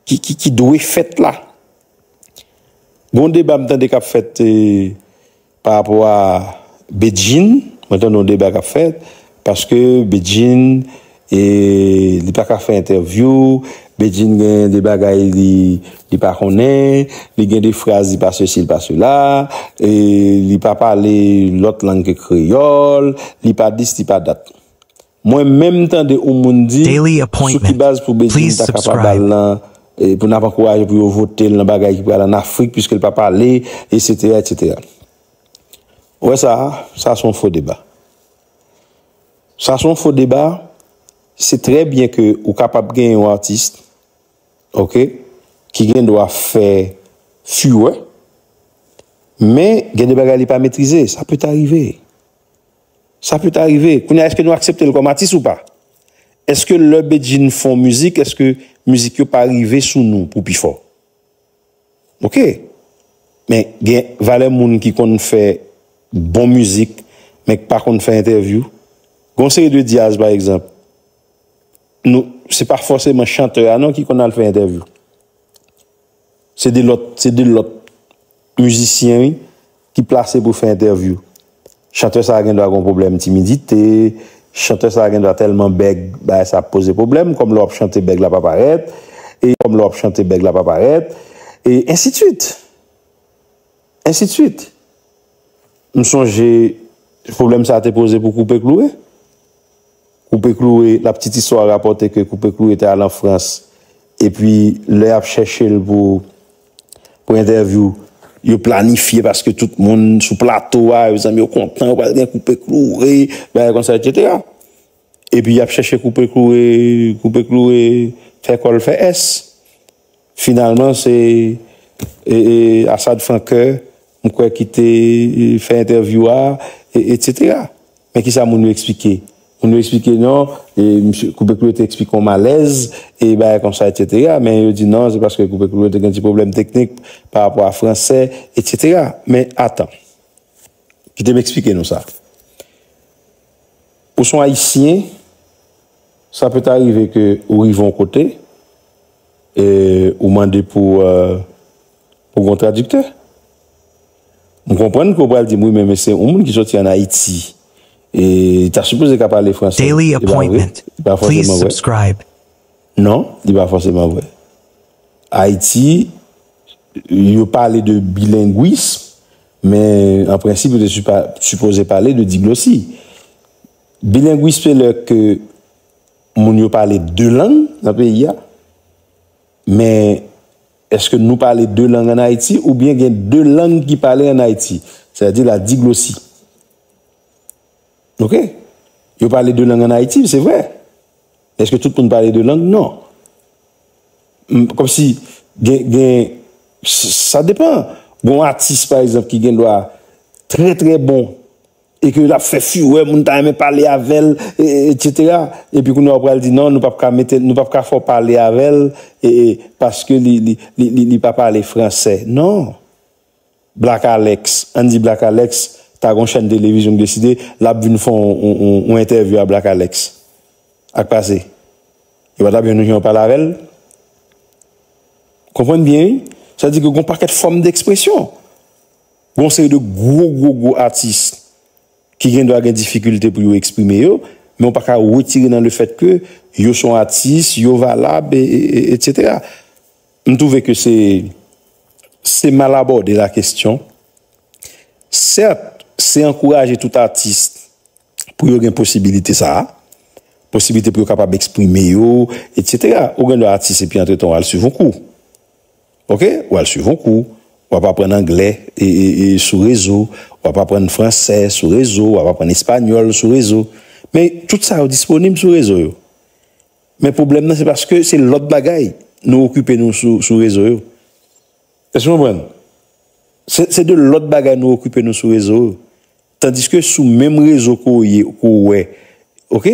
ki dwe fèt la. Gon deba m tande k ap fèt pa rapò a Bedjine, mwen tande yon deba k ap fèt, paske Bedjine li pa ka fè entèvyou, Bedjine gen de bagay li pa konnen, li gen de fraz li pa sesi li pa sela, li pa pale lòt lang ke kreyòl, li pa dis li pa dat. Mwen menm tande ou moun di sou ki baz pou Bedjine ta ka pa bal nan pou nap ankouraje pou yo votel nan bagay ki pral an Afrik piskel pa pale etc etc ou wè sa sa son fo deba sa son fo deba se trè byen ke ou kapab gen yon artist ok ki gen dwa fè furè men gen de bagay li pa metrize sa peta rive Sa peut arrive, kounye a eske nou aksepte l kòm atis ou pa? Eske lè Bedjine fon mizik eske mizik yo pa rive sou nou pou pi fò? Ok men gen valè moun ki konn fè bon mizik men k pa konn fè entèvyou. Gon seri de dyaz pa egzanp nou se pa fòseman chantè a non ki konn al fè entèvyou. Se 2 lòt se 2 lòt mizisyen wi ki plase pou fè entèvyou. Chantè sa gen dwa gen yon pwoblèm timidite, chantè sa gen dwa tèlman bèg bagay sa ap poze pwoblèm kòm lè w ap chante bèg la pa parèt e kòm lè w ap chante bèg la pa parèt e ensitvit. Ensidswit. M sonje pwoblèm sa te poze pou Koupe Kloure. Koupe Kloure, la ptit istwa rapòte ke Koupe Kloure te al an Frans epi lè y ap chèche l pou entèvyou, yo planifye paske tout moun sou plato a, mezanmi yo kontan yo pral gen Koupe Kloure, bagay konsa etsetera. Epi y ap chèche Koupe Kloure, Koupe Kloure fè kò l fè ès. Finalman se Assad Francoeur m kwè ki te fè entèvyou a etc. Men kisa moun yo eksplike? Moun yo eksplike non misye Coupé Cloué te eksplike yon malèz e bagay konsa etc. Men yo di non se paske Coupé Cloué te gen ti pwoblèm teknik pa rapò a fransè etc. Men atan kite m eksplike nou sa. Ou son ayisyen Sa pe ta rive ke ou rive yon kote e ou mande pou pou gon tradiktè. M konprann ke ou pral di m wi men men se yon moun ki soti an Ayiti e li ta sipoze ka pale franse. Daily appointment please subscribe. Non, li pa fòseman vre. Ayiti yo pale de bilengwism men an prensip yo te sipoze pale de diglosi. Bilengwis se lè ke moun yo pale 2 lang nan peyi a, men eske nou pale 2 lang an Ayiti ou byen gen 2 lang ki pale an Ayiti, se a di la diglosi. Ok, yo pale 2 lang an Ayiti, se vre, eske tout moun pale 2 lang, non. Kom si gen, gen, sa depan, gon atis pa egzanp ki gen dwa trè trè bon. e ke lap fè furè moun ta renmen pale avèl etc. Epi kounye a ou pral di non nou pap ka mete nou pap ka fè w pale avèl paske li pa pale fransè non Black Alex ann di Black Alex ta gon chèn televizyon ki deside lap vin fè yon entèvyou a Black Alex ak pase yo pa tap jwenn yon jan yo pale avèl konprann byen wi sa vle di ke gon pakèt fòm dèkspresyon Gen yon seri de gwo gwo gwo atis ki gen dwa gen difikilte pou yo eksprime yo, men ou pa ka wetire nan lefèt ke yo son atis, yo valab etc. M twouve ke se se mal abòde la kestyon. Sèt, se ankouraje tout atis pou yo gen posibilite sa a, posibilite pou yo kapab eksprime yo etc. Ou gen dwa atis epi antretan w al swiv yon kou. Ok, w al swiv yon kou, w ap aprann anglè sou rezo, w ap aprann fransè sou rezo, w ap aprann espanyòl sou rezo. Men, tout sa yo disponib sou rezo yo. Men pwoblèm nan se paske se lòt bagay nou okipe nou sou rezo yo. Èske nou konprann? Se de lòt bagay nou okipe nou sou rezo yo. Tandiske sou menm rezo ke w ye, ke w wè, ok,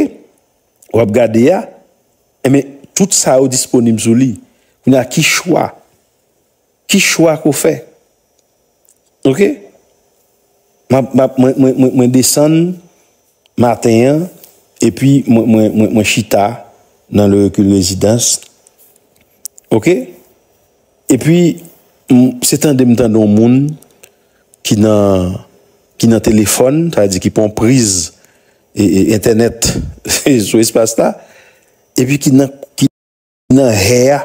w ap gade a, Enben, tout sa yo disponib sou li. Kounye a, ki chwa? Ki chwa ke w fè? Ok. Mwen desann maten an, epi mwen chita nan Le Recul Residence. Ok. Epi, se tande m tande yon moun. ki nan ki nan telefòn, sa vle di ki pran yon priz entènèt sou espas la, epi ki nan ki nan hè a,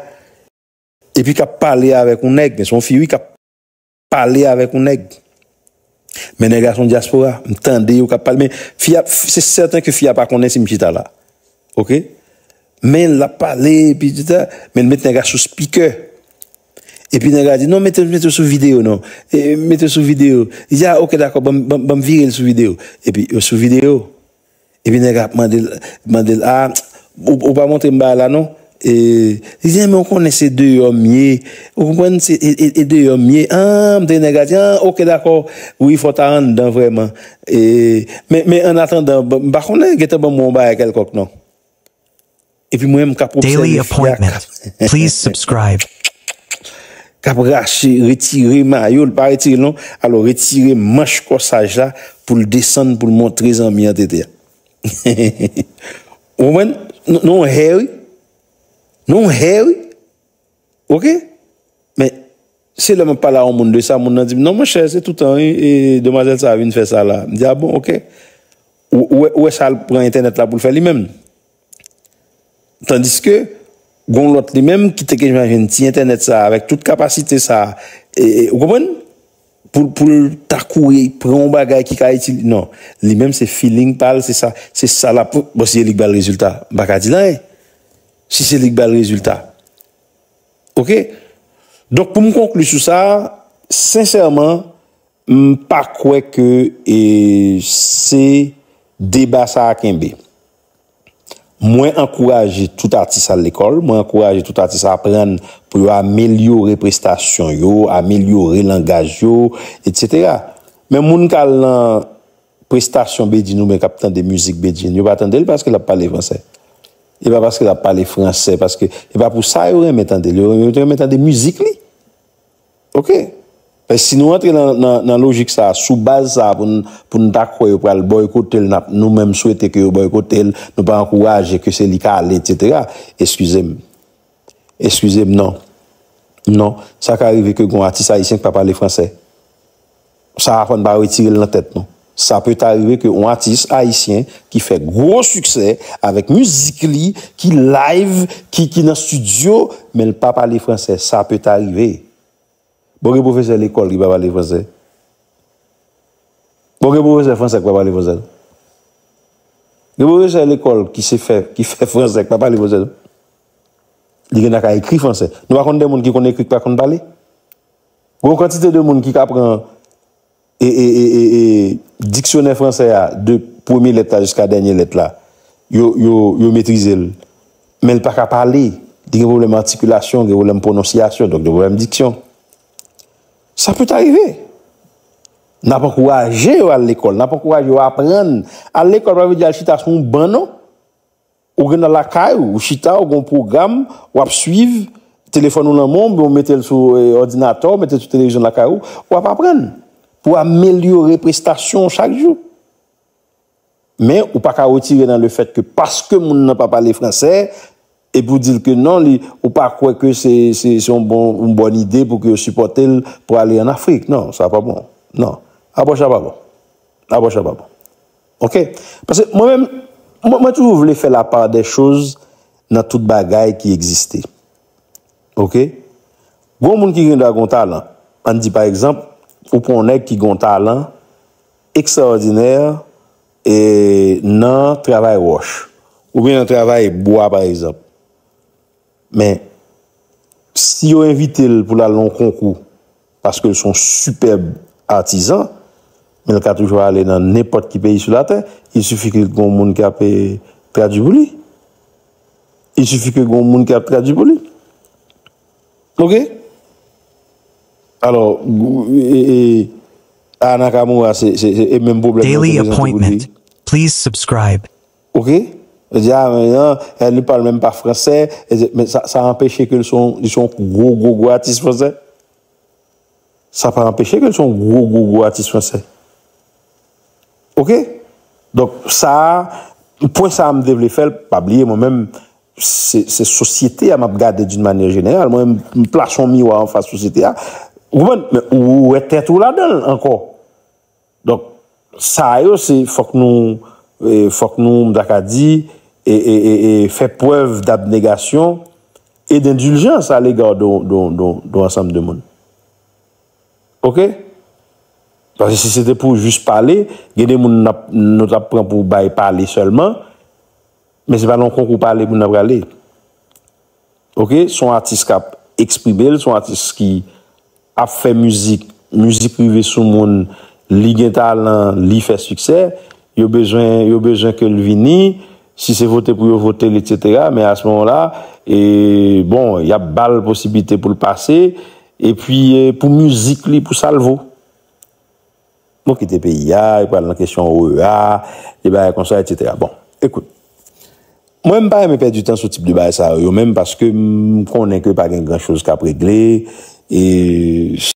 epi k ap pale avèk yon nèg, men se yon fi wi k ap pale avèk yon nèg, men nèg la se yon dyaspora, m tande yo k ap pale, men fi a, se sèten ke fi a pa konnen si m chita la, oke, men l ap pale, epi di sa, men l met nèg la sou spikè. Epi nèg la di, non mete yo sou videyo non, mete yo sou videyo. Li di, a ok dakò, banm vire l sou videyo. Epi yo sou videyo. Epi nèg la ap mande l, mande l, a ou pa montre m bagay la non. E li di, men ou konnen se deyò m ye, ou konprann, se e deyò m ye. An, m tande nèg la di, an ok dakò, wi fò w ta anndan vrèman. E men annatandan, m pa konnen, gen tan banm wè yon bagay kèlkonk non. Epi mwen menm kap obsève fi a kap kap rache retire mayo l pa retire l non alò retire manch kòsaj la pou l desann pou l montre zanmi an tete a ou konprann nou hè wi nou hè wi. Ok men se lè map pale a yon moun de sa moun nan dim non monchè se toutan wi e demwazèl sa vin fè sa la mdi a bon ok ou wè sal pran entènèt la poul fè li menm tandiske gon lòt li menm ki te gen menm ti entènèt sa avèk tout kapasite sa e ou konprann poul ta kouri pran yon bagay ki ka itil non li menm se filing pal se sa lap bon se li ki bal rezilta m paka dil anyen. Si se li k bal rezilta. Ok. Donk pou m konkli sou sa, sensèman, m pa kwè ke e se deba sa a kenbe. Mwen ankouraje tout atis al lekòl, mwen ankouraje tout atis aprann pou yo amelyore prestasyon yo, amelyore langaj yo, etc. Men moun k al nan prestasyon Bedjine oubyen kap tande mizik Bedjine yo pa tandel paske lap pale fransè e pa paske lap pale fransè paske e pa pou sa yo renmen tandel yo renmen tande mizik li ok men si nou antre nan lojik sa sou baz sa poun ta kwè yo pral boykotel nap nou menm swete ke yo boykotel nou pa ankouraje ke se li ka ale etc eskizem. Eskize m non. Non, sa ka rive ke gen yon atis ayisyen ki pa pale franse. Sa a fò n pa retire l nan tèt nou. Sa pe ta rive ke yon atis ayisyen ki fè gwo siksè avèk mizik li, ki live, ki nan studio, men l pa pale franse. Sa pe ta rive. Bon gen pwofesè lekòl ki pa pale fransè? Bon gen pwofesè fransè ki pa pale fransè tou? Gen pwofesè lekòl ki se fè ki fè fransè ki pa pale fransè tou? Li gen ta ka ekri fransè. Nou pa konn gen moun ki konn ekri ki pa konn pale? Gen yon kantite de moun ki ka pran diksyonè fransè a de premye lèt la jiska dènye lèt la, yo, yo, yo metrize l, men l pa ka pale, li gen pwoblèm atikilasyon, gen pwoblèm pwononsyasyon, donk gen pwoblèm diksyon. Sa pèt arive. N ap ankouraje yo al lekòl, n ap ankouraje yo aprann. Al lekòl pa vle di al chita sou yon ban non. Ou gen nan lakay ou, ou chita, ou gen yon pwogram w ap suiv, telefòn ou nan men w oubyen ou mete l sou òdinatè w, mete l sou televizyon lakay ou, w ap aprann pou w amelyore prestasyon w chak jou. Men, ou pa ka retire nan lefèt ke paske moun nan pa pale fransè, epi ou di l ke non li, ou pa kwè ke se yon bon, yon bòn ide pou ke yo sipòte l pou ale an Afrik. Non, sa pa bon. Non. Apwòch la pa bon. Apwòch la pa bon. Ok paske mwen menm mwen toujou vle fè la part des choses nan tout bagay ki egziste ok gon moun ki gen dwa gon talan ann di pa egzanp ou pran yon nèg ki gon talan ekstraòdinè e nan travay wòch oubyen nan travay bwa pa egzanp. Men, si yo envite l pou l al nan yon konkou paske l se yon sipèb atizan, men l ka toujou ale nan nenpòt ki peyi sou latè, il sifi ke gen yon moun ki ap tradui pou li. Il sifi ke gen yon moun ki ap tradui pou li. Ok? Alò, Aya Nakamura se menm pwoblèm nan te prezante pou li. Ok jodi a men an el li pale menm pa fransè men sa sa anpeche ke li se yon li se yon gwo gwo gwo atis fransè sa pa anpeche ke li se yon gwo gwo gwo atis fransè ok donk sa pwen sa m te vle fè l pa bliye mwen menm se se sosyete a m ap gade doun manye jeneral mwen m plase yon miwa anfas sosyete a ou konprann men ou wè tèt ou ladan l ankò. Donk, sa yo se fòk nou, fòk nou, m ta ka di, fè prèv dabnegasyon e dendiljans alega don ansanm de moun. Oke? Paske si se te pou jis pale, gen de moun nou t ap pran pou bay pale sèlman, men se pa nan yon konkou pale moun nan prale. Oke? S on atis k ap eksprime l, s on atis ki ap fè mizik, mizik rive sou moun, li gen talan, li fè siksè, yo bezwen, yo bezwen ke l vini, si se vote pou yo vote l etc. Men a ce moment là, e, bon, y ap ba l posiblite pou l pase, e pi pou mizik li, pou sa l vo. Nou kite peyi a, yo pral nan kesyon OEA, de bagay konsa, etc. Bon, ekout, mwen m pa renmen pèdi tan sou tip de bagay sa yo menm paske m konnen ke pa gen gran choz k ap regle e.